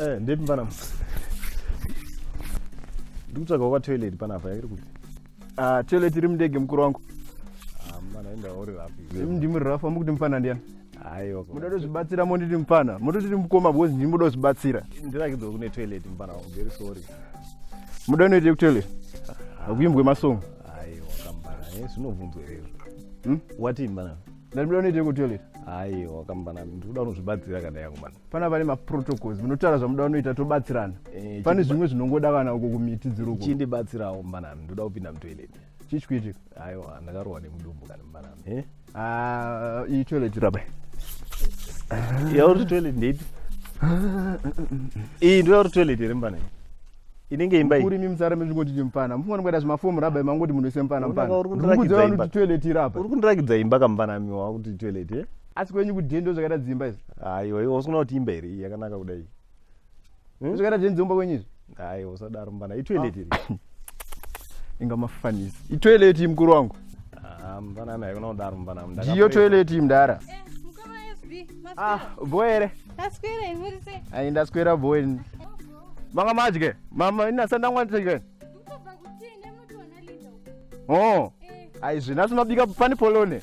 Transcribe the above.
Eh, ndepi mfana ndikutsvaga waka toilet panapa yakiri kuti ah, toilet iri mundege mukuru wangu ah, mfana enda uri rapi ndimi rafa mukuti mfana ndiyani Aiwa. Muda kuzvibatsira monditi mfana. Muda kuti mukoma because ndimi muda kuzvibatsira. Ndirakidzo kune toilet mfana wangu. Very sorry. Muda unoita ku toilet. Akuimbwe masong. Aiwa kambana. Eh zvinobvunzwa izvo. Hmm? Wati mfana. Ndati muda unoita ku toilet. Aiwa kambana. Ndikuda unozvibatsira kana yangu mfana. Pana pane ma protocols. Munotaura zvamuda unoita tobatsirana. Eh, Pane zvimwe zvinongoda kana uko kumiti dziri uko. Chindibatsirawo mfana. Ndoda kupinda mu toilet. chichwiti aiwa ndakarohwa nemudumbu kana mbarama eh? ah, iyi toilet rabai yauri toilet ndeipi iyi ndoyauri toilet here mupana inenge imba uri mimsara mezvingoti chimupana mufana kuita zvimafomu rabai mangoti munhu ise mupana mupanaurikuti toilet irapa uri kundirakidza imba kampanami wakuti toilet eh? asi kwenyu kudhendo zvakaita dzimba izvi aiwa iwa usikuona kuti imba here yakanaka kudai hmm? zvakaita zvenzi umba kwenyu izvi hayi usadaro mbana itoilet iri ah. inga mafanisi itoilet iyi mukuru wangu ah, mbanami haikona kudaro mbanami ndiyo toilet iyi mdara eh, ah, bho here ai ndaswera bho ini manga madye mama inasandangwanitike o oh. eh. aizvinasi mabika pani polone